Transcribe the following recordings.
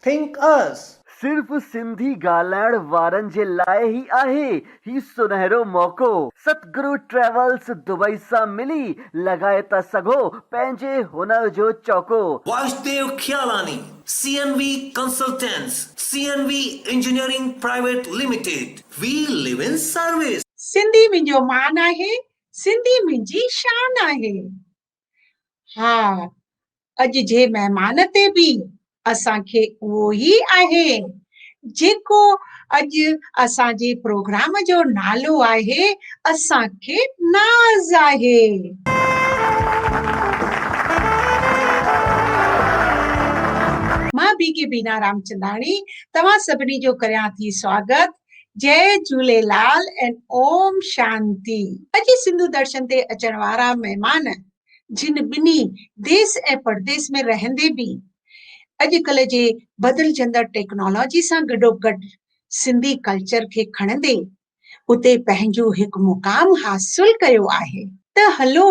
Think Us. صرف سنڌي ڳالهائڻ وارن جي لاء ئي آهي هي سنهرو موقعو. ستگرو ٽريولز دبئي سان ملي لڳائي ٿا سگهو پنهنجي هنر جو چوڪو. Vasdev Khialani, C N V consultants, C N V engineering private limited, we live in service. Sindhi منهنجو مان آهي، سنڌي منهنجي شان آهي. ها اڄ جي مهمان تي به اسان کي اهو ئي آهي جيڪو اڄ اسان جي پروگرام جو نالو آهي اسان کي ناز آهي مان بي ڪي بينا رامچنداڻي توهان سڀني جو ڪريان ٿي سواگت جئي جهوليلال اينڊ اوم شانتي. اڄ سنڌو درشن تي اچڻ وارا مهمان جن ٻنهي ديس ۽ پرديس ۾ رهندي به اڄڪلهه جي بدلجندڙ ٽيڪنالاجي سان گڏوگڏ سنڌي ڪلچر کي کڻندي اتي پنهنجو هڪ مقام حاصل ڪيو آهي ته هلو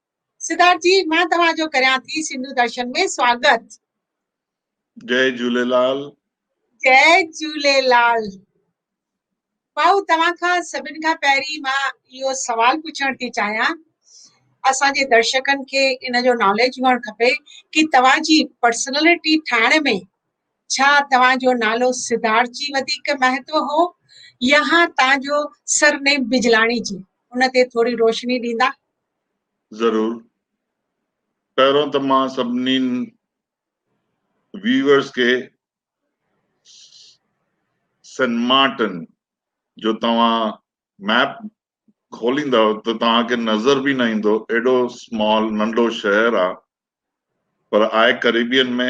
سڌارٿ جي مان توهان جو ڪريان ٿي سنڌو درشن ۾ سواگت. جئي جهوليلال. جئي جهوليلال. ڀائو توهان کان سڀن کان پهرين مان اهو سوال پڇڻ ٿي چاهيان اسان جي درشڪن کي ان جو ناليج هئڻ کپي ڪي توهان جي پرسنالٽي ٺاهڻ ۾ ڇا توهان جو نالو سڌارٿ جي وڌيڪ مهتو هو يا توهان جو سرنيم بجلاڻي جي ان تي ٿوري روشني ڏيندا. ضرور پهرون ته مان سڀني ويورز کي سين مارٽن جو توهان ميپ کوليندا ته توهان کي نظر به نه ايندو ايڏو سمال ننڍو شهر آ پر آء ڪريبين ۾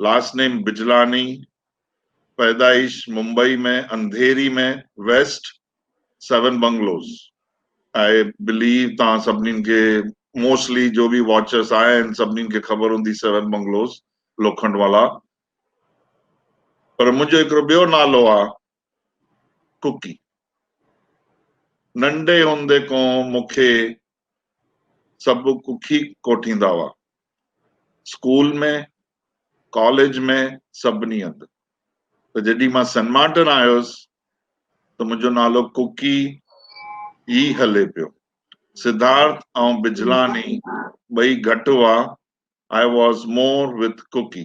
لاسٽ نيم بجلاني، پيدائش Mumbai ۾ Andheri ۾ west seven bungalows. I believe توهان سڀني کي موسٽلي جو به واچرس آهن سڀني کي خبر هوندي سيون بنگلوز لوکنڊ والا پر منهنجو هڪڙو ٻيو نالو آ ڪڪي، ننڍي هوندي کان مون کي سڀ ڪڪي ڪوٺيندا هئا. اسڪول ۾ ڪاليج ۾ سڀني هنڌ. پر جڏهن مان سنمارٽن آيس ته منهنجو نالو ڪڪي ئي هلي پيو. سڌارٿ ۽ بجلاني ٻئي گهٽ هئا، آء واز مور وٿ ڪڪي.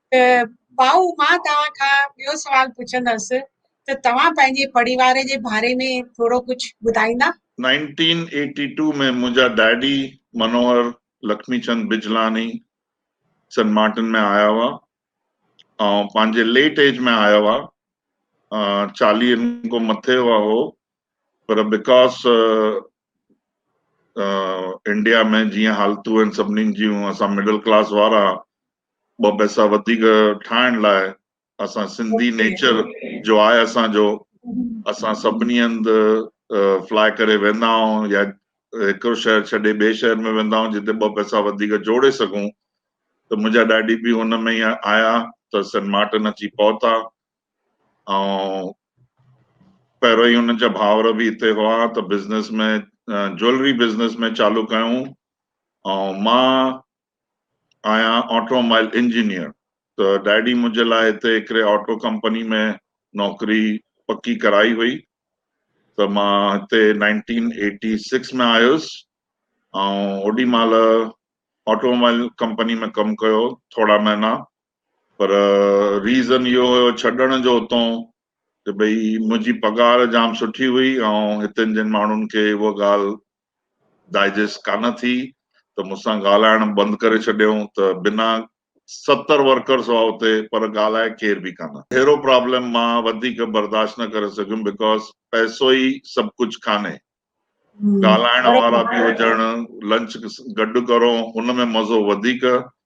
ته ڀائو مان توهان کان ٻيو سوال پڇندس ته توهان پنهنجي پڙيواري جي ڀاري ۾ ٿورو ڪجھ ٻڌائيندا؟ نائنٽين ايٽي ٽو ۾ منهنجا ڊئڊي منوهر لکمي چند بجلاڻي سنٽ مارٽن ۾ آيا هئا ۽ پنهنجي ليٽ ايج ۾ آيا هئا چاليهن کان مٿي هئا هو پر بيڪاز انڊيا ۾ جيئن حالتون آهن سڀني جون اسان مڊل ڪلاس وارا ٻه پئسا وڌيڪ ٺاهڻ لاء اسان سنڌي نيچر جو آهي اسانجو اسان سڀني هنڌ فلاء ڪري ويندا آهيون يا هڪڙو شهر ڇڏي ٻئي شهر ۾ ويندا آهيون جتي ٻه پئسا وڌيڪ جوڙي سگهون ته منهنجا ڏاڏي به هن ۾ آيا ته سين مارٽن اچي پهتا ۽ پهريون ئي هنن جا ڀائر به هتي هئا ته بزنس ۾ جوئلري بزنس ۾ چالو ڪيائون ۽ مان آهيان آٽو مائل انجنيئر ته ڊيڊي منهنجي لاء هتي هڪڙي آٽو ڪمپني ۾ نوڪري پڪي ڪرائي هئي ته مان هتي نائنٽين ايٽي سڪس ۾ آيس ۽ اوڏي مهل آٽو مائل ڪمپني ۾ ڪم ڪيو ٿورا مهينا پر ريزن اهو هيو ڇڏڻ جو اتون ته ڀئي منهنجي پگهار جام سٺي هئي ۽ هتن جن ماڻهن کي اها ڳالهه ڊائجسٽ ڪانه ٿي ته مون سان ڳالهائڻ بند ڪري ڇڏيائون ته بنا ستر ورڪرس هئا اتي پر ڳالهائي ڪير به ڪانه. اهڙو پرابلم مان وڌيڪ برداشت نه ڪري سگهيم بڪاز پئسو ئي سڀ ڪجهه ڪانهي. ڳالهائڻ وارا به هجڻ، لنچ گڏ ڪرون ان ۾ مزو وڌيڪ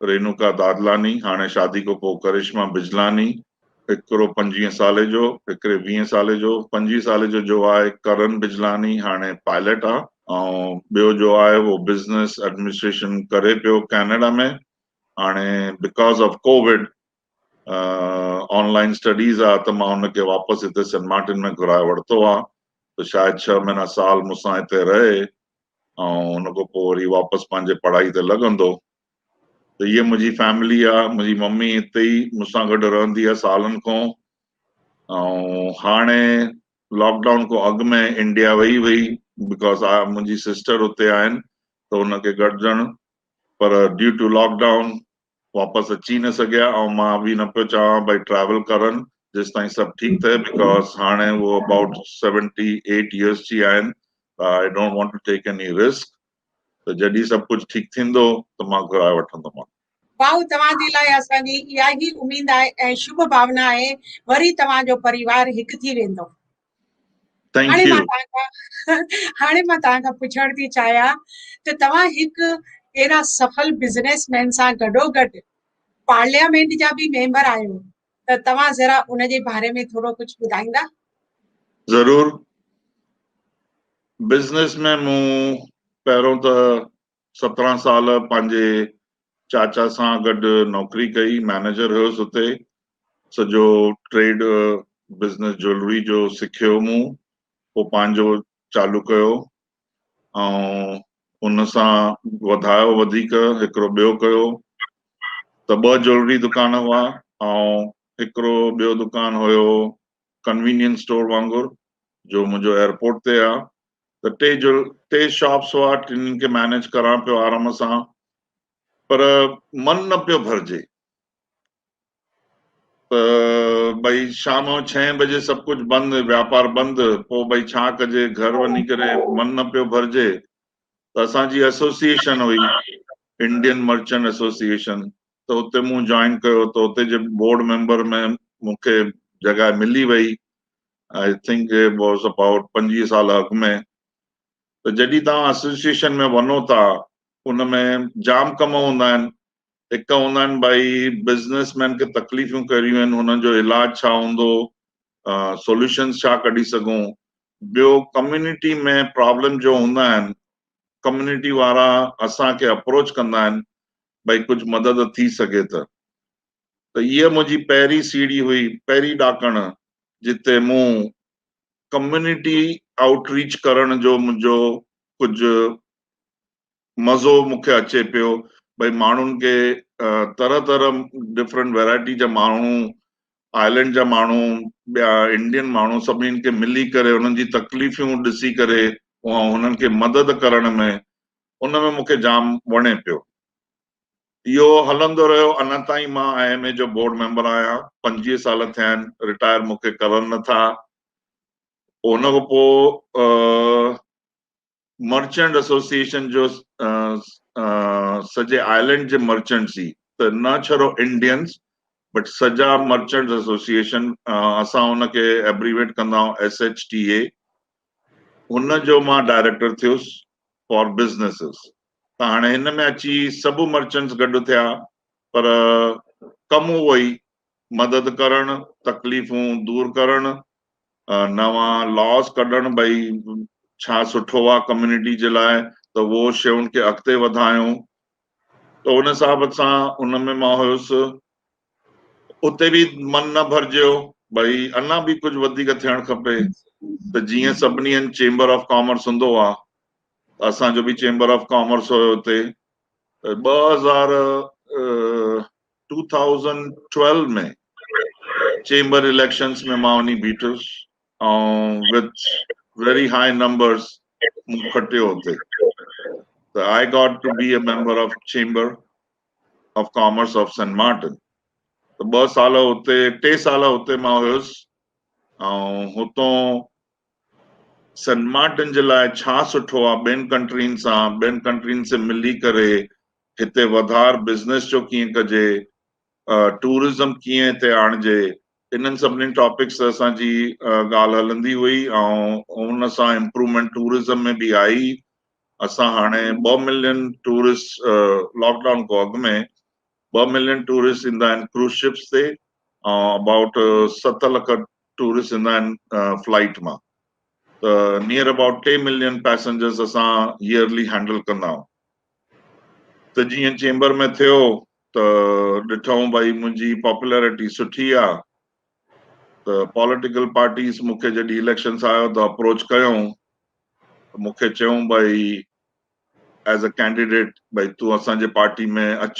رينوڪا دادلاني هاڻي شادي کان پوء ڪرشما بجلاني هڪرو پنجويهه سالي جو هڪري ويهه سالي جو پنجويهه سالي جو جو آهي ڪرن بجلاني هاڻي پائليٽ آ ۽ ٻيو جو آهي اهو بزنس ايڊمنسٽريشن ڪري پيو ڪينيڊا ۾ هاڻي because of Covid online studies آ ته مان ان کي واپس هتي سين مارٽن ۾ گهرائي ورتو آ ته شايد ڇهه مهينا سال مون سان هتي رهي ۽ ان کان پوء وري واپس پنهنجي پڙهائي تي لڳندو ته هيء منهنجي فيملي آ، منهنجي ممي هتي ئي مون سان گڏ رهندي آ سالن کان ۽ هاڻي لاڪ ڊائون کان اڳ ۾ انڊيا وئي هئي بڪاز آء منهنجي سسٽر هتي آهن ته ان کي گڏجڻ پر ڊيو ٽو لاڪ ڊائون واپس اچي ئي نه سگهيا ۽ مان به نه پيو چاهيان ڀاء ٽريول ڪرن جيستائين سڀ ٺيڪ ٿئي بڪاز هاڻي هو ابائوٽ سيونٽي ايٽ ايئرس جي آهن ته I don't want to take any risk ته جڏهن سڀ ڪجهه ٺيڪ ٿيندو ته مان گهرائي وٺندومان. واهه توهان جي لاء اسان جي اها ئي اميد ۽ شڀ ڀاونا آهي وري توهان جو پريوار هڪ ٿي ويندو. ٿينڪ يو هاڻي مان توهان کان پڇڻ ٿي چاهيان ته توهان هڪ اهڙا سفل بزنس مين سان گڏو گڏ پارليامينٽ جا به ميمبر آهيو ته توهان ذرا ان جي باري ۾ ٿورو ڪجهه ٻڌائيندا ضرور بزنس ۾ مون پهريون ته سترهن سال پنهنجي چاچا سان گڏ نوڪري ڪئي، مئنيجر هيس اتي، سڄو ٽريڊ بزنس جوئلري جو سکيو مون، پوء پنهنجو چالو ڪيو ۽ ان سان وڌايو وڌيڪ هڪڙو ٻيو ڪيو ته ٻه جوئلري دڪان هئا ۽ هڪڙو ٻيو دڪان هيو ڪنوينينس اسٽور وانگر جو منهنجو ايئرپورٽ تي آ، ته ٽي جو ٽي شاپس هئا ٽنهن کي مينيج ڪران پيو آرام سان پر من نه پيو ڀرجي ته ڀئي شام جو ڇهين بجي سڀ ڪجهه بند واپار بند پوء ڀئي ڇا ڪجي گهر وڃي ڪري من نه پيو ڀرجي ته اسان جي ايسوسيئيشن هئي انڊين مرچنٽ ايسوسيئيشن ته اتي مون جوائن ڪيو ته اتي جي بورڊ ميمبر ۾ مونکي جڳهه ملي وئي I think it was about پنجويهه سال اڳ ۾ ته جڏهن توهان اسوسيئيشن ۾ وڃو ٿا ان ۾ جام ڪم هوندا آهن هڪ هوندا آهن ڀائي بزنس مين کي تڪليفون ڪهڙيون آهن هنن جو علاج ڇا هوندو سوليوشنس ڇا ڪڍي سگهون ٻيو ڪميونٽي ۾ پرابلم جو هوندا آهن ڪميونٽي وارا اسان کي اپروچ ڪندا آهن ڀائي ڪجهه مدد ٿي سگهي ته ته اها منهنجي پهرين سيڙهي هئي، پهرين ڏاڪڻ، جتي مون ڪميونٽي آئوٽ ريچ ڪرڻ جو منهنجو ڪجهه مزو مون کي اچي پيو، ڀئي ماڻهن کي طرح طرح ڊفرنٽ ويرائٽي جا ماڻهو، آئلينڊ جا ماڻهو، ٻيا انڊين ماڻهو سڀني کي ملي ڪري انهن جي تڪليفيون ڏسي ڪري انهن کي مدد ڪرڻ ۾ ان ۾ مون کي جام وڻي پيو. اهو هلندو رهيو اڃا تائين مان آء ايم اي جو بورڊ ميمبر آهيان پنجويهه سال ٿيا آهن رٽائر مون کي ڪرن نه ٿا ان کان پوء مرچنٽ ايسوسيئيشن جو سڄي آئلينڊ جي مرچنٽس ئي ته نه ڇڙو انڊينس بٽ سڄا مرچنٽ ايسوسيئيشن اسان ان کي ايبريويٽ ڪندا آهيون ايس ايچ ٽي اي ان جو مان ڊائريڪٽر ٿيس فار بزنسز ته هاڻي هن ۾ اچي سڀ مرچنٽس گڏ ٿيا پر ڪم اهو ئي مدد ڪرڻ، تڪليفون دور ڪرڻ، نوان Laws ڪڍڻ ڀئي ڇا سٺو آ ڪميونٽي جي لاء ته اهو شين کي اڳتي وڌايون ته ان حساب سان ان ۾ مان هيس اتي به من نه ڀرجيو ڀئي اڃا به ڪجهه وڌيڪ ٿيڻ کپي ته جيئن سڀني هنڌ چيمبر آف ڪامرس هوندو آهي ته اسان جو به چيمبر آف ڪامرس هيو اتي ٻه هزار two thousand twelve ۾ chamber elections ۾ مان وڃي بيٺس ۽ وٿ ويري هاء نمبرس مون کٽيو اتي ته I got to be a member of chamber of commerce of Saint Martin ته ٻه سال اتي ٽي سال اتي مان هيس ۽ هتون سينٽ مارٽن جي لاء ڇا سٺو آ ٻين ڪنٽرين سان ٻين ڪنٽرين سي ملي ڪري هتي وڌار بزنس جو ڪيئن ڪجي ٽورزم ڪيئن هتي آڻجي انهن سڀني ٽاپڪس تي اسان جي ڳالهه هلندي هئي ۽ ان سان امپروومينٽ ٽورزم ۾ به آئي اسان هاڻي ٻه ملين ٽوئرسٽ لاڪ ڊائون کان اڳ ۾ ٻه ملين ٽوئرسٽ ايندا آهن ڪروز شپس تي ۽ ابائوٽ ست لک ٽوئرسٽ ايندا آهن فلائيٽ مان ته نيئر ابائوٽ ٽي ملين پيسنجرس اسان ييئرلي هينڊل ڪندا آهيون ته جيئن چيمبر ۾ ٿيو ته ڏٺائون ڀائي منهنجي پاپولرٽي سٺي آهي ته پاليٽيڪل پارٽيز مون کي جڏهن اليڪشنس آيو ته اپروچ ڪيائون ته مون کي چيائون ڀائي ايز اي ڪينڊيڊيٽ ڀائي تون اسان جي پارٽي ۾ اچ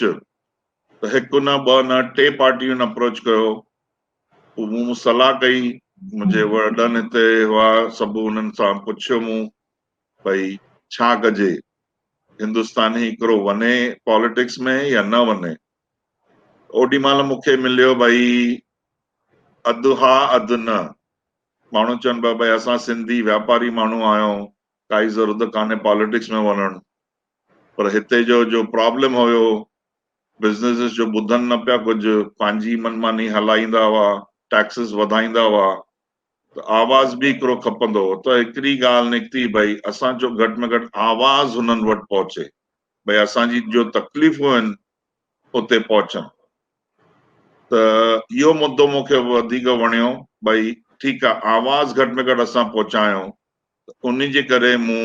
ته هڪ نه ٻه نه ٽي پارٽيون اپروچ ڪيو پوء مون صلاح ڪئي منهنجي وڏن هتي هئا سڀ انهن سان پڇيو مون ڀائي ڇا ڪجي هندستاني هڪڙو وڃي پاليٽڪس ۾ يا نه وڃي اوڏي مهل مون کي مليو ڀئي اڌ ها اڌ نه. ماڻهو چون پيا ڀئي اسان سنڌي واپاري ماڻهو آهيون ڪائي ضرورت ڪانهي پاليٽڪس ۾ وڃڻ پر هتي جو جو پرابلم هيو بزنيسز جو ٻڌن نه پيا ڪجهه پنهنجي من ماني هلائيندا هئا ٽيڪسز وڌائيندا هئا ته آواز به هڪڙو کپندو هو ته هڪڙي ڳالهه نڪتي ڀئي اسان جو گهٽ ۾ گهٽ آواز هنن وٽ پهچي ڀئي اسان جي جو تڪليفون آهن اتي پهچن ته اهو مدو مون کي وڌيڪ وڻيو ڀئي ٺيڪ آهي آواز گهٽ ۾ گهٽ اسان پهچايون ته انهي جي ڪري مون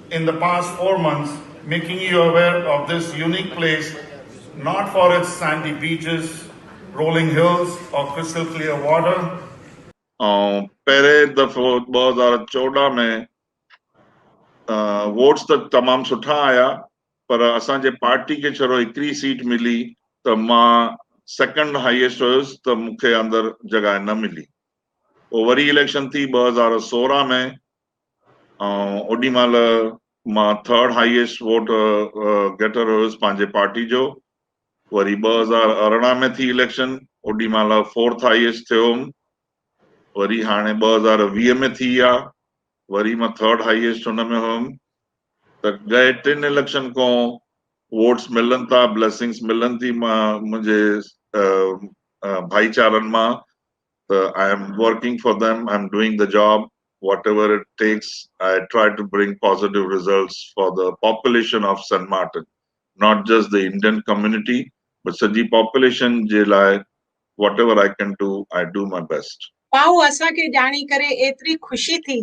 in the past four months making you aware of this unique place not for its sandy beaches rolling hills or crystal clear water. آئون پهرين دفعو ٻه هزار چوڏهن ۾ ووٽس ته تمام سٺا آيا پر اسان جي پارٽي کي شرو هڪڙي سيٽ ملي ته مان سيڪنڊ هائيسٽ هيس ته مون کي اندر جڳهه نه ملي پوء وري اليڪشن ٿي ٻه هزار سورهن ۾ ۽ اوڏي مهل مان ٿرڊ هائيسٽ ووٽ گيٽر هيس پنهنجي پارٽي جو وري ٻه هزار ارڙهن ۾ ٿي اليڪشن اوڏي مهل فورٿ هائيسٽ ٿيو هوم وري هاڻي ٻه هزار ويهه ۾ ٿي آ وري مان ٿرڊ هائيسٽ هن ۾ هوم ته ڳئي ٽن اليڪشن کان ووٽس ملن ٿا بليسنگس ملن ٿي منهنجي ڀائيچارن مان ته I am working for them, I am doing the job whatever it takes, I try to bring positive results for the population of Saint Martin, not just the Indian community but سڄي population جي لاء whatever I can do, I do my best. ڀائو اسان کي ڄاڻي ڪري ايتري خوشي ٿي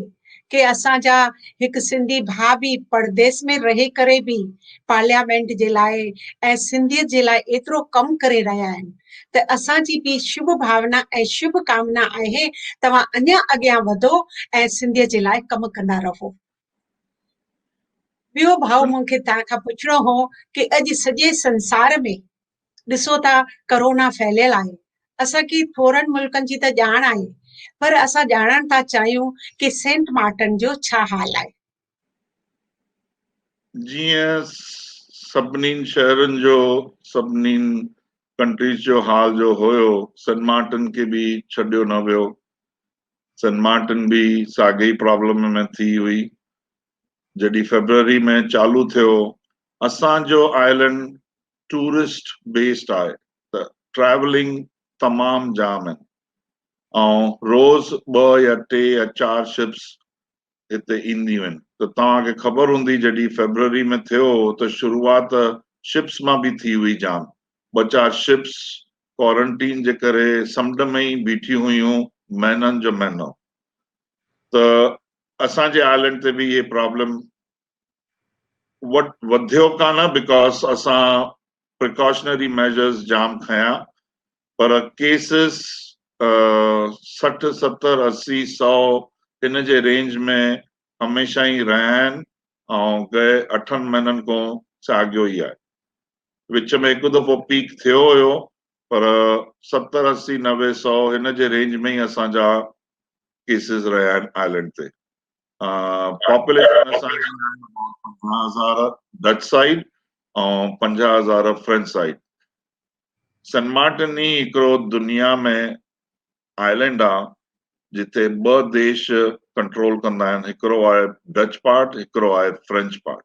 ڪي اسان جا هڪ سنڌي ڀاء به پرديس ۾ رهي ڪري به پارليامينٽ جي لاء ۽ سنڌيت جي لاء ايترو ڪم ڪري رهيا آهن ته اسان جي به شڀ ڀاونا ۽ شڀ ڪامنا آهي توهان اڃا اڳيان وڌو ۽ سنڌيت جي لاء ڪم ڪندا رهو. ٻيو ڀاء مون کي توهان کان پڇڻو هو ڪي اڄ سڄي سنسار ۾ ڏسو ته ڪرونا ڦهليل آهي، اسان کي ٿورن ملڪن جي ته ڄاڻ آهي پر اسان ڄاڻڻ ٿا چاهيون ڪي سينٽ مارٽن جو ڇا حال آهي. جيئن سڀنين شهرن جو سڀنين ڪنٽريز جو حال جو هيو سينٽ مارٽن کي به ڇڏيو نه ويو، سينٽ مارٽن به ساڳي ئي پرابلم ۾ ٿي هئي جڏهن فيبروري ۾ چالو ٿيو، اسان جو آئلينڊ ٽوئرسٽ بيسڊ آهي ته ٽريولنگ تمام جام آهن ۽ روز ٻه يا ٽي يا چار شپس هتي اينديون آهن ته توهان کي خبر هوندي جڏهن فيبروري ۾ ٿيو هو ته شروعات شپس مان به ٿي هئي جام ٻه چار شپس ڪوارنٽين جي ڪري سمنڊ ۾ ئي بيٺيون هيون مهنن جو مهنو ته اسان جي آئلينڊ تي به اهي پرابلم وٽ وڌيو ڪانه بڪاز اسان پريڪاشنري ميزرز جام کنيا پر ڪيسز سٺ ستر اسي سؤ ان جي رينج ۾ هميشه ئي رهيا آهن ۽ گئي اٺن مهينن کون ساڳيو ئي آهي وچ ۾ هڪ دفعو پيڪ ٿيو هيو پر ستر اسي نوي سؤ ان جي رينج ۾ ئي اسان جا ڪيسز رهيا آهن آئلينڊ تي پاپوليشن اسان جي پنجاهه هزار ڊچ سائيڊ ۽ پنجاهه هزار فرينچ سائيڊ سن مارٽن ئي هڪڙو دنيا ۾ آئلينڊ آ جتي ٻه ديش ڪنٽرول ڪندا آهن هڪڙو آهي ڊچ پارٽ هڪڙو آهي فرينچ پارٽ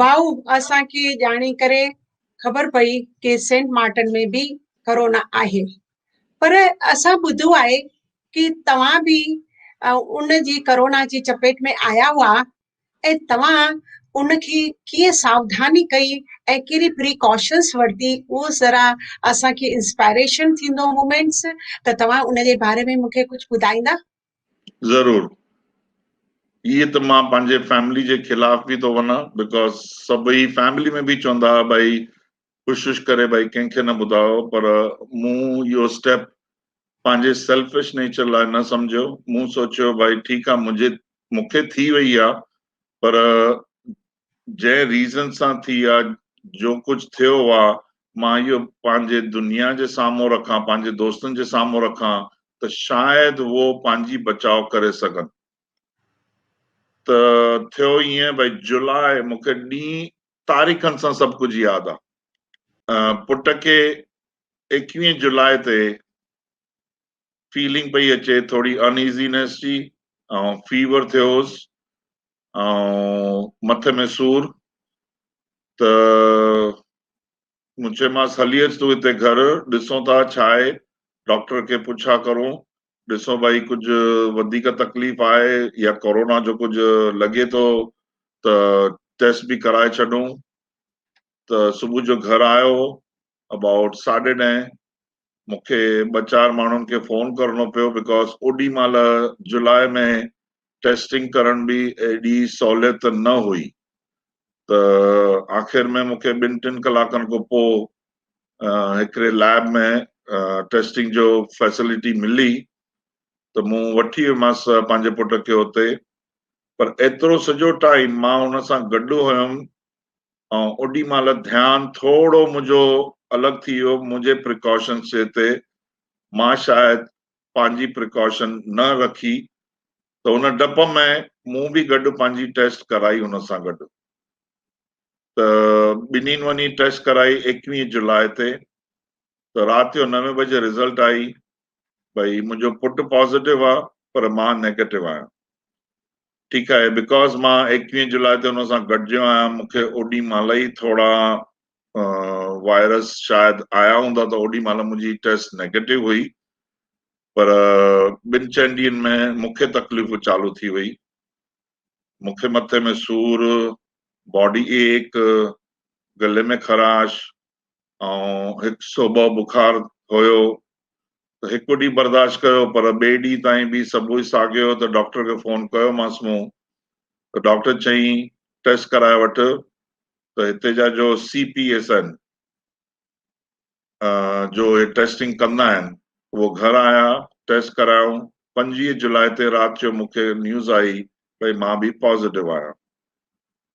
ڀائو اسان کي ڄاڻي ڪري خبر پئي ڪي سينٽ مارٽن ۾ به ڪرونا آهي پر اسان ٻڌو آهي ڪي توهان به ان جي ڪرونا جي چپيٽ ۾ آيا هئا ۽ توهان ان کي ڪيئن ساوڌاني ڪئي ۽ ڪهڙي پريڪاشنس ورتي اهو ذرا اسان کي انسپائريشن ٿيندو مومينٽس ته توهان ان جي باري ۾ مون کي ڪجهه ٻڌائيندا ضرور ايئن ته مان پنهنجي فيملي جي خلاف به ٿو وڃان بڪاز سڀئي فيملي ۾ به چوندا هئا ڀائي ڪوشش ڪري ڀائي ڪنهن کي نه ٻڌايو پر مون اهو اسٽيپ پنهنجي سيلفش نيچر لاء نه سمجهيو مون سوچيو ڀائي ٺيڪ آهي منهنجي مونکي ٿي وئي آهي پر جنهن ريزن سان ٿي آ جو ڪجهه ٿيو آ مان اهو پنهنجي دنيا جي سامهون رکان پنهنجي دوستن جي سامهون رکان ته شايد هو پنهنجي بچاء ڪري سگهن ته ٿيو ائين ڀئي جولاء مون کي ڏينهن تاريخن سان سڀ ڪجهه ياد آ پٽ کي ايڪويهه جولاء تي فيلنگ پئي اچي ٿوري ان ايزينيس جي ۽ فيور ٿيو هوس ۽ مٿي ۾ سور ته مون چيمانس هلي اچ تون هتي گهر ڏسون ٿا ڇا آهي ڊاڪٽر کي پڇا ڪرون ڏسون ڀائي ڪجهه وڌيڪ تڪليف آهي يا ڪورونا جو ڪجهه لڳي ٿو ته ٽيسٽ به ڪرائي ڇڏون ته صبح جو گهر آيو ابائوٽ ساڍي ڏهين مون کي ٻه چار ماڻهن کي فون ڪرڻو پيو بڪاز اوڏي مهل جولاء ۾ ٽيسٽنگ ڪرڻ به ايڏي سهوليت نه هئي ته آخر ۾ مون کي ٻن ٽن ڪلاڪن کان پوء هڪڙي ليب ۾ ٽيسٽنگ جو فيسلٽي ملي ته مون وٺي ويمس پنهنجي پٽ کي اتي پر ايترو سڄو ٽائيم مان هن سان گڏ هيم ۽ اوڏي مهل ڌيان ٿورو منهنجو الڳ ٿي ويو منهنجي پريڪاشنس جي تي مان شايد پنهنجي پريڪاشن نه رکي ته ان ڊپ ۾ مون به گڏ پنهنجي ٽيسٽ ڪرائي ان سان گڏ ته ٻنهين وڃي ٽيسٽ ڪرائي ايڪويهه جولاء تي ته رات جو نوي بجي رزلٽ آئي ڀئي منهنجو پٽ پازيٽو آهي پر مان نيگيٽو آهيان ٺيڪ آهي بيڪاز مان ايڪويهه جولاء تي ان سان گڏجيو آهيان مون کي اوڏي مهل ئي ٿورا وائرس شايد آيا هوندا ته اوڏي مهل منهنجي ٽيسٽ نيگيٽو هئي پر ٻن چئن ڏينهن ۾ مون کي تڪليفون چالو ٿي وئي مون کي مٿي ۾ سور باڊي ايڪ گلي ۾ خراش ۽ هڪ سو ٻه بخار هيو ته هڪ ڏينهن برداشت ڪيو پر ٻئي ڏينهن تائين به سڀوئي ساڳيو هيو ته ڊاڪٽر کي فون ڪيومانس مون ته ڊاڪٽر چيائين ٽيسٽ ڪرائي وٺ ته هتي جا جو سي پي ايس آهن جو هي ٽيسٽنگ ڪندا آهن اهو گهر آيا ٽيسٽ ڪرايائون پنجويهه جولاء تي رات جو مون کي نيوز آئي ڀئي مان به پازيٽو آهيان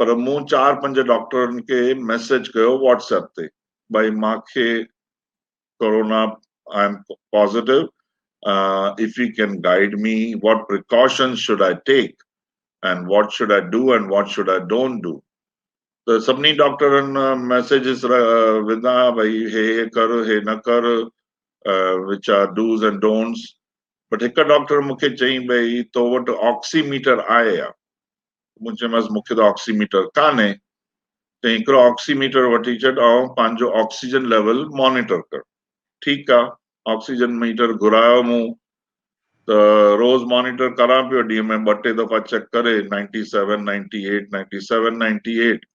پر مون چار پنج ڊاڪٽرن کي ميسيج ڪيو واٽس ايپ تي ڀائي مان کي corona I am positive if you can guide me what precautions should I take and what should I do and what should I don't do ته سڀني ڊاڪٽرن ميسيجز وڌا ڀائي هي هي ڪر هي نه ڪر which are do's and don'ts but هڪ ڊاڪٽر مون کي چئي ڀئي تو وٽ آڪسي ميٽر آهي يا مون چيمانس مون کي ته آڪسي ميٽر ڪانهي، چيائين هڪڙو آڪسي ميٽر وٺي ڇڏ ۽ پنهنجو آڪسيجن ليول مانيٽر ڪر. ٺيڪ آ، آڪسيجن ميٽر گهرايو مون ته روز مانيٽر ڪران پيو، ڏينهن ۾ ٻه ٽي دفعا چيڪ ڪري ninety seven ninety eight ninety seven ninety eight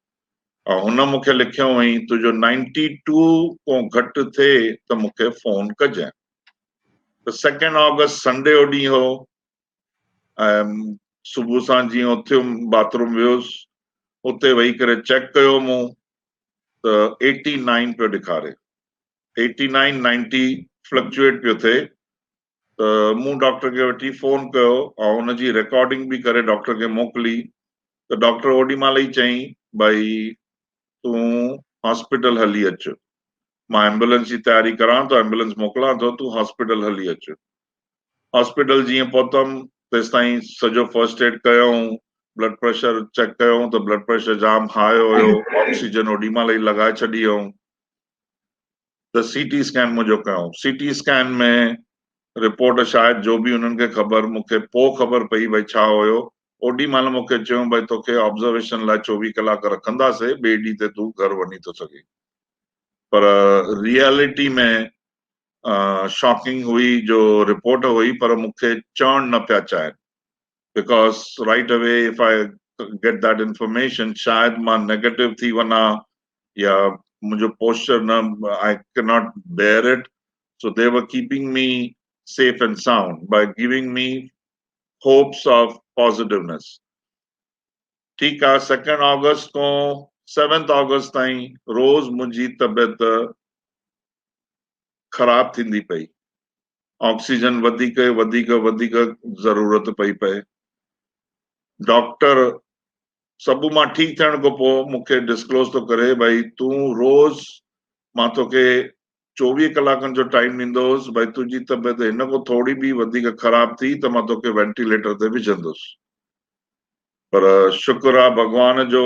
۽ هن مون کي لکيو هئائين تنهنجو نائنٽي ٽو ڪون گهٽ ٿئي ته مون کي فون ڪجانء ته سيڪنڊ آگسٽ سنڊي جو ڏينهن هو، ۽ صبح سان جيئن اٿيم باٿروم ويس اتي ويهي ڪري چيڪ ڪيو مون ته ايٽي نائن پيو ڏيکاري ايٽي نائن نائنٽي فلڪچوئيٽ پيو ٿئي ته مون ڊاڪٽر کي وٺي فون ڪيو ۽ ان جي رڪارڊنگ به ڪري ڊاڪٽر کي موڪلي ته ڊاڪٽر اوڏي مهل ئي چيائين ڀائي تون هاسپيٽل هلي اچ مان ايمبولنس جي تياري ڪران ٿو ايمبولنس موڪلان ٿو تون هاسپيٽل هلي اچ هاسپيٽل جيئن پهتم تيستائين سڄو فرسٽ ايڊ ڪيائون، بلڊ پريشر چيڪ ڪيائون ته بلڊ پريشر جام هاء هيو، آڪسيجن اوڏي مهل ئي لڳائي ڇڏي هيائون ته سي ٽي اسڪين منهنجو ڪيائون، سي ٽي اسڪين ۾ رپورٽ شايد جو به انهن کي خبر مون کي پوء خبر پئي ڀئي ڇا هيو، اوڏي مهل مون کي چيائون ڀئي توکي آبزرويشن لاء چوويهه ڪلاڪ رکنداسين ٻئي ڏينهن تي تون گهر وڃي ٿو سگهين پر ريئلٽي ۾ شاڪنگ هئي جو رپورٽ هئي پر مون کي چوڻ نه پيا چاهين because right away if I get that information شايد مان نيگيٽو ٿي ونا يا منهنجو پوسچر نه I can not bear it so they were keeping me safe and sound by giving me hopes of positiveness ٺيڪ آ سيڪنڊ آگسٽ کان سيونٿ آگسٽ تائين روز منهنجي طبيعت خراب ٿيندي پئي. آڪسيجن وڌيڪ وڌيڪ وڌيڪ ضرورت پئي پئي. ڊاڪٽر سڀ مان ٺيڪ ٿيڻ کان پوء مون کي ڊسڪلوز ٿو ڪري ڀائي تون روز مان توکي چوويهه ڪلاڪن جو ٽائيم ڏيندوس ڀائي تنهنجي طبيعت هن کان ٿوري به وڌيڪ خراب ٿي ته مان توکي وينٽيليٽر تي وجهندوس پر شڪر آ ڀڳوان جو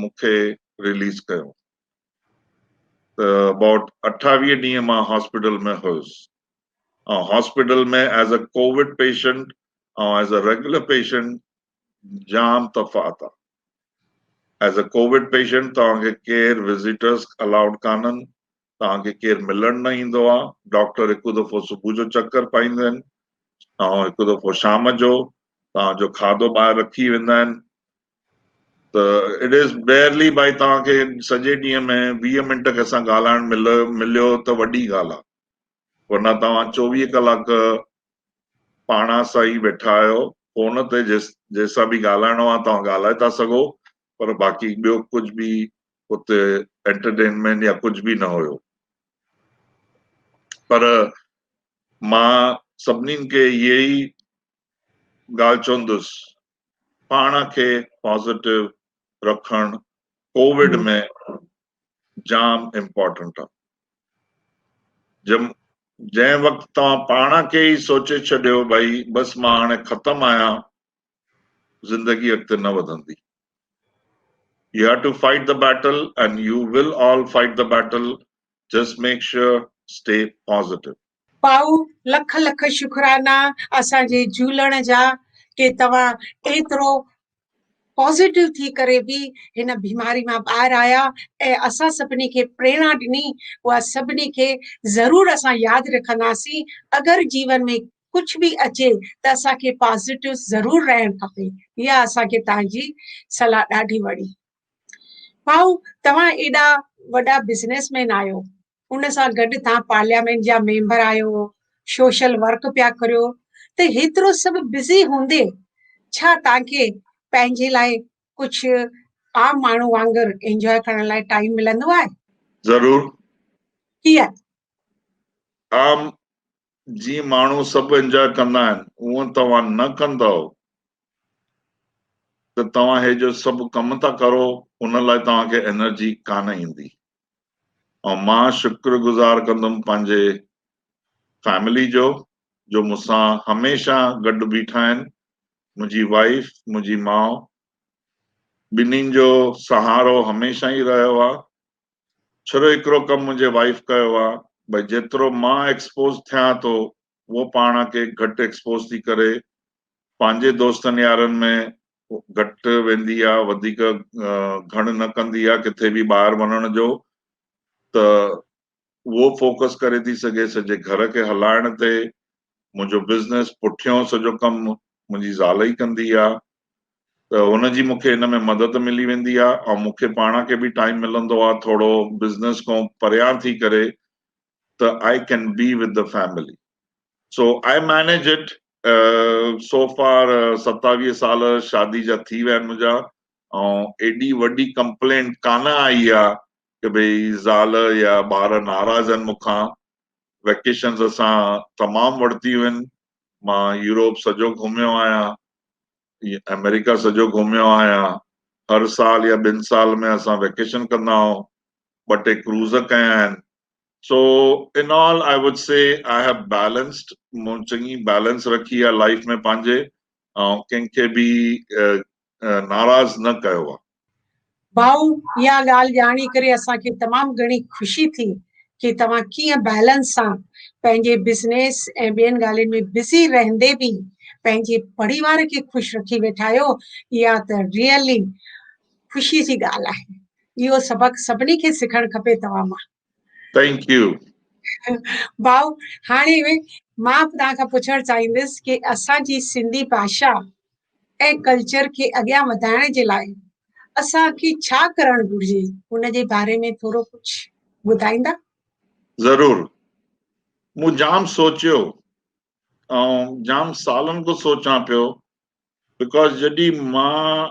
مون کي رليز ڪيو ته ابائوٽ اٺاويهه ڏينهن مان هاسپيٽل ۾ هيس ۽ hospital ۾ as a Covid patient ۽ as a regular patient جام تفاوت آهي ايز اي ڪووڊ پيشنٽ توهان کي ڪير وزيٽرس الاؤڊ ڪانهن توهان کي ڪير ملڻ نه ايندو آ، ڊاڪٽر هڪ دفعو صبح جو چڪر پائيندو آهن، ۽ هڪ دفعو شام جو، توهان جو کاڌو ٻاهر رکي ويندا آهن، ته اٽ از بيئرلي بائي توهان کي سڄي ڏينهن ۾ ويهه منٽ ڪنهن سان ڳالهائڻ ملي مليو ته وڏي ڳالهه آ، ورنه توهان چوويهه ڪلاڪ پاڻان سان ئي ويٺا آهيو، فون تي جنهن سان به ڳالهائڻو آ توهان ڳالهائي ٿا سگهو، پر باقي ٻيو ڪجهه به اتي انٽرٽينمينٽ يا ڪجهه به نه هيو پر مان سڀني کي اهي ئي ڳالهه چوندس پاڻ کي پازيٽو رکڻ ڪووڊ ۾ جام امپورٽنٽ آهي جنهن وقت توهان پاڻ کي ئي سوچي ڇڏيو ڀائي بس مان هاڻي ختم آهيان زندگي اڳتي نه وڌندي. You have to fight the battle and you will all fight the battle just make sure stay positive. ڀائو لک لک شڪرانا اسان جي جھولڻ جا ڪي توھان ايترو پازيٽو ٿي ڪري به ھن بيماري مان ٻاھر آيا ۽ اسان سڀني کي پريڻا ڏني اھا سڀني کي ضرور اسان ياد رکنداسين اگر جيون ۾ ڪجهه به اچي ته اسان کي پازيٽو ضرور رهڻ کپي اها اسان کي توهان جي صلاح ڏاڍي وڻي ڀائو توهان ايڏا وڏا بزنس مين آهيو ان سان گڏ توهان پارليامينٽ جا ميمبر آهيو سوشل ورڪ پيا ڪريو ته هيترو سڀ بزي هوندي ڇا توهان کي پنهنجي لاء ڪجهه عام ماڻهو وانگر انجوائي ڪرڻ لاء ٽائيم ملندو آهي ضرور ڪيئن عام جيئن ماڻهو سڀ انجوائي ڪندا آهن اهو توهان نه ڪندؤ ته توهان هي جو سڀ ڪم ٿا ڪرو ان لاء توهان کي انرجي ڪانه ايندي ۽ مان شڪر گذار ڪندم پنهنجي فيملي جو جو مون سان هميشه گڏ بيٺا آهن منهنجي وائيف منهنجي ماء ٻنهين جو سهارو هميشه ئي رهيو آهي ڇرو هڪڙو ڪم منهنجي وائيف ڪيو آ ڀئي جيترو مان ايڪسپوز ٿيان ٿو هوء پاڻ کي گهٽ ايڪسپوز ٿي ڪري پنهنجي دوستن يارن ۾ گهٽ ويندي آ وڌيڪ گهڻ نه ڪندي آ ڪٿي به ٻاهر وڃڻ جو ته هوء فوڪس ڪري ٿي سگهي سڄي گهر کي هلائڻ تي منهنجو بزنس پٺيون سڄو ڪم منهنجي زال ئي ڪندي آ ته هن جي مونکي ان ۾ مدد ملي ويندي آ ۽ مونکي پاڻ کي به ٽائيم ملندو آ ٿورو بزنس کون پريان ٿي ڪري ته I can be with the family so I manage it so for ستاويهه سال شادي جا ٿي ويا آهن منهنجا ۽ ايڏي وڏي ڪمپلينٽ ڪانه آئي آ ته ڀئي زال يا ٻار ناراض آهن مونکان ويڪيشنز اسان تمام ورتيون آهن مان يوروپ سڄو گهميو آهيان آمريڪا سڄو گهميو آهيان هر سال يا ٻن سال ۾ اسان ويڪيشن ڪندا آهيون ٻه ٽي ڪروز ڪيا آهن سو ان آل آء وڊ سي آء هيو بيلنسڊ مون چڱي بيلنس رکي آهي لائف ۾ پنهنجي ۽ ڪنهن کي به ناراض نه ڪيو آ. ڀائو اها ڳالهه ڄاڻي ڪري اسان کي تمام گهڻي خوشي ٿي ڪي توهان ڪيئن بئلنس سان پنهنجي بزنيس ۽ ٻين ڳالهين ۾ بزي رهندي به پنهنجي پڙيوار کي خوش رکي ويٺا آهيو اها ته ريئلي خوشي جي ڳالهه آهي اهو سبق سڀني کي سکڻ کپي توهان مان. ٿينڪ يو ڀائو هاڻي مان توهان کان پڇڻ چاهيندس ڪي اسان جي سنڌي ڀاشا ۽ ڪلچر کي اڳيان وڌائڻ جي لاء اسان کي ڇا ڪرڻ گهرجي ان جي باري ۾ ٿورو ڪجهه ٻڌائيندا ضرور مون جام سوچيو ۽ جام سالن کان سوچان پيو بڪاز جڏي مان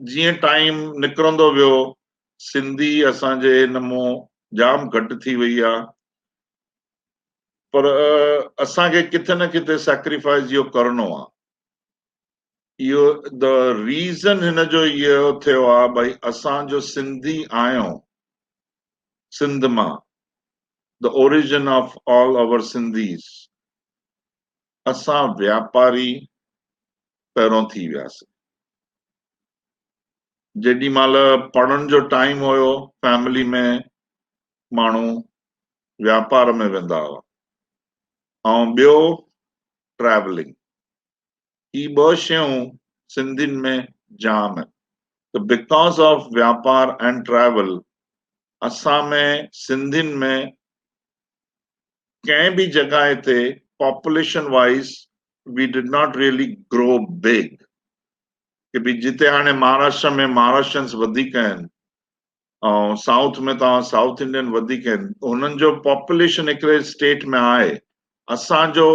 جيئن ٽائيم نڪرندو ويو سنڌي اسان جي هن مون جام گهٽ ٿي وئي آ پر اسان کي ڪٿي نه ڪٿي سيڪريفائز اهو ڪرڻو آ اهو د ريزن هن جو اهو ٿيو آ ڀائي اسان جو سنڌي آيو سنڌ مان the origin of all our Sindhis اسان واپاري پهرون ٿي وياسين. جيڏي مهل پڙهڻ جو ٽائيم هيو فيملي ۾ ماڻهو واپار ۾ ويندا هئا ۽ ٻيو ٽريولنگ هي ٻه شيون سنڌين ۾ جام آهن ته بڪاز آف واپار اينڊ ٽريول اسان ۾ سنڌين ۾ ڪنهن به جڳهه تي population wise we did not really grow big ڪي به جتي هاڻي مهاراشٽر ۾ مهاراشٽرنس وڌيڪ آهن ۽ سائوٿ ۾ توهان سائوٿ انڊين وڌيڪ آهن هنن جو پاپوليشن هڪڙي اسٽيٽ ۾ آهي اسان جو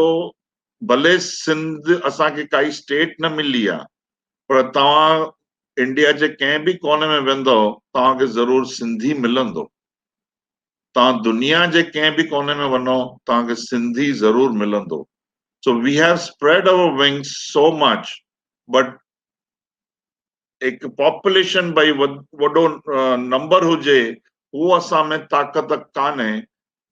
ڀلي سنڌ اسان کي ڪائي اسٽيٽ نه ملي آهي پر توهان انڊيا جي ڪنهن به ڪوني ۾ ويندو توهان کي ضرور سنڌي ملندو توهان دنيا جي ڪنهن به ڪوني ۾ وڃو توهان کي سنڌي ضرور ملندو so we have spread over wings so much but هڪ پاپوليشن ڀئي وڏو نمبر هجي هو اسان ۾ طاقت ڪانهي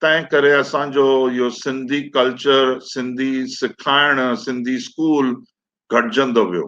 تنهن ڪري اسان جو اهو سنڌي ڪلچر سنڌي سکائڻ سنڌي اسڪول گهٽجندو ويو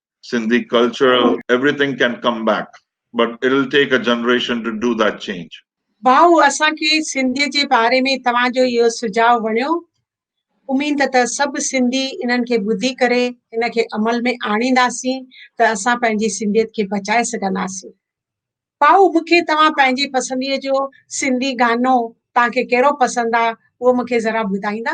Sindhi culture everything can come back but it will take a generation to do that change. ڀائو اسان کي سنڌيء جي باري ۾ توهان جو اهو سجهاء وڻيو اميد ته سڀ سنڌي انهن کي ٻڌي ڪري ان کي عمل ۾ آڻينداسين ته اسان پنهنجي سنڌيت کي بچائي سگهنداسين ڀائو مون کي توهان پنهنجي پسنديء جو سنڌي گانو توهان کي ڪهڙو پسند آ اهو مون کي ذرا ٻڌائيندا.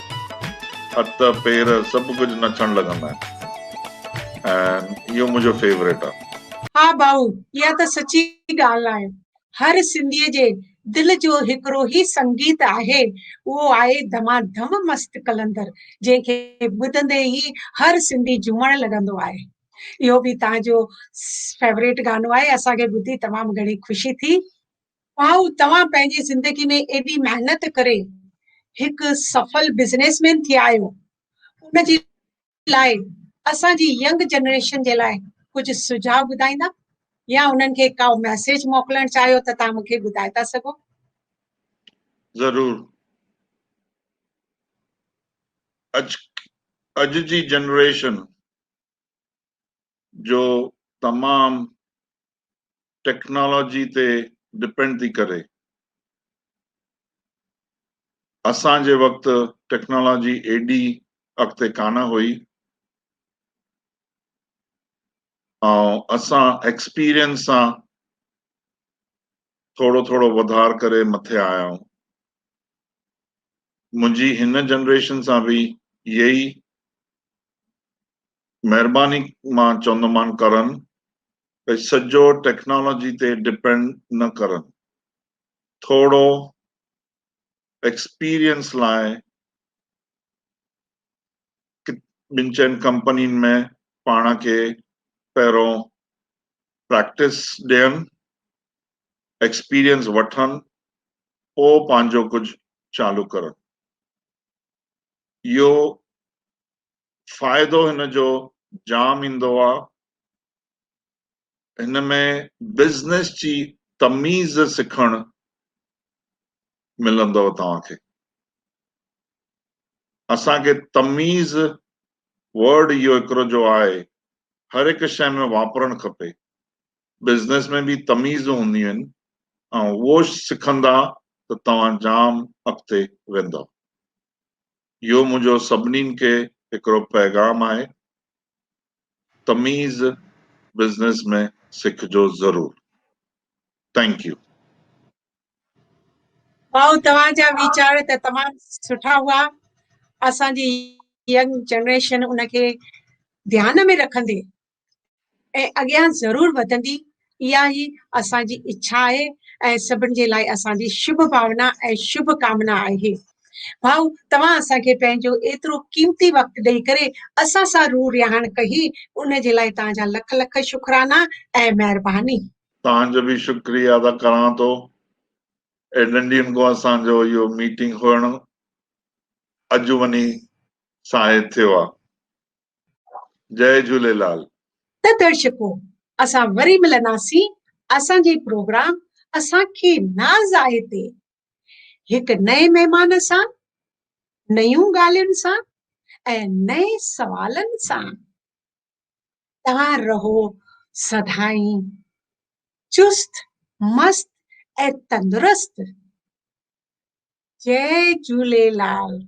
هٿ پير سڀ ڪجهه نچڻ لڳندا آهن ۽ اهو منهنجو فيوريٽ آهي. ها ڀائو اها ته سچي ڳالهه آهي هر سنڌي جي دل جو هڪڙو هي سنگيت آهي اهو آهي ڌما ڌم مست قلندر جنهن کي ٻڌندي ئي هر سنڌي جهومڻ لڳندو آهي اهو به تهان جو فيوريٽ گانو آهي اسان کي ٻڌي تمام گهڻي خوشي ٿي. واء توهان پنهنجي زندگي ۾ ايڏي محنت ڪري هڪ سڦل بزنس مين ٿي آيو ان جي لاء اسان جي ينگ جنريشن جي لاء ڪجهه سجھاء ٻڌائيندا يا انهن کي ڪا ميسيج موڪلڻ چاهيو ته تان مونکي ٻڌائي ٿا سگھو ضرور اڄ اڄ جي جنريشن جو تمام ٽيڪنالاجي تي ڊپينڊ ٿي ڪري. اسان جي وقت ٽيڪنالاجي ايڏي اڳتي ڪانه هئي ۽ اسان ايڪسپيرينس سان ٿورو ٿورو وڌار ڪري مٿي آيا آهيون. منهنجي هن جنريشن سان به اهي ئي مهرباني مان چوندومان ڪرن ڀئي سڄو ٽيڪنالاجي تي ڊپينڊ نه ڪرن ٿوڙو ايڪسپيرينس لاء ٻن چئن ڪمپنين ۾ پاڻ کي پهرون پريڪٽس ڏين ايڪسپيرينس وٺن پوء پنهنجو ڪجهه چالو ڪرن اهو فائدو هن جو جام ايندو آ. هن ۾ بزنس جي تميز سکڻ ملندو توهان کي. اسان کي تميز ورڊ اهو هڪڙو جو آهي هر هڪ شئي ۾ واپرڻ کپي. بزنس ۾ به تميزون هونديون آهن ۽ اهو سکندا ته توهان جام اڳتي ويندؤ. اهو منهنجو سڀنين کي هڪڙو پيغام آهي تميز بزنس ۾ سکجو ضرور ٿينڪ يو. واؤ توهان جا ويچار ته تمام سٺا هئا اسان جي ينگ جنريشن ان کي ڌيان ۾ رکندي ۽ اڳيان ضرور وڌندي اها ئي اسان جي اڇا آهي ۽ سڀن جي لاء اسان جي شڀ ڀاونا ۽ شڀ ڪامنا آهي. ڀائو توهان اسان کي پنهنجو ايترو قيمتي وقت ڏئي ڪري اسان سان روح رهاڻ ڪهي ان جي لاء توهان جا لک لک شڪرانا ۽ مهرباني. توهان جو به شڪريه ادا ڪران ٿو ايڏن ڏينهن کان اسان جو اهو ميٽنگ هئڻ اڄ وڃي ساهي ٿيو آهي جئي جهوليلال. ته درشڪو اسان وري ملنداسين اسان جي پروگرام اسان کي ناز آهي تي هڪ نئين مهمان سان نيون ڳالهين سان ۽ نئين سوالن سان توهان رهو سدائين چست مست ۽ تندرست جئي جهوليلال.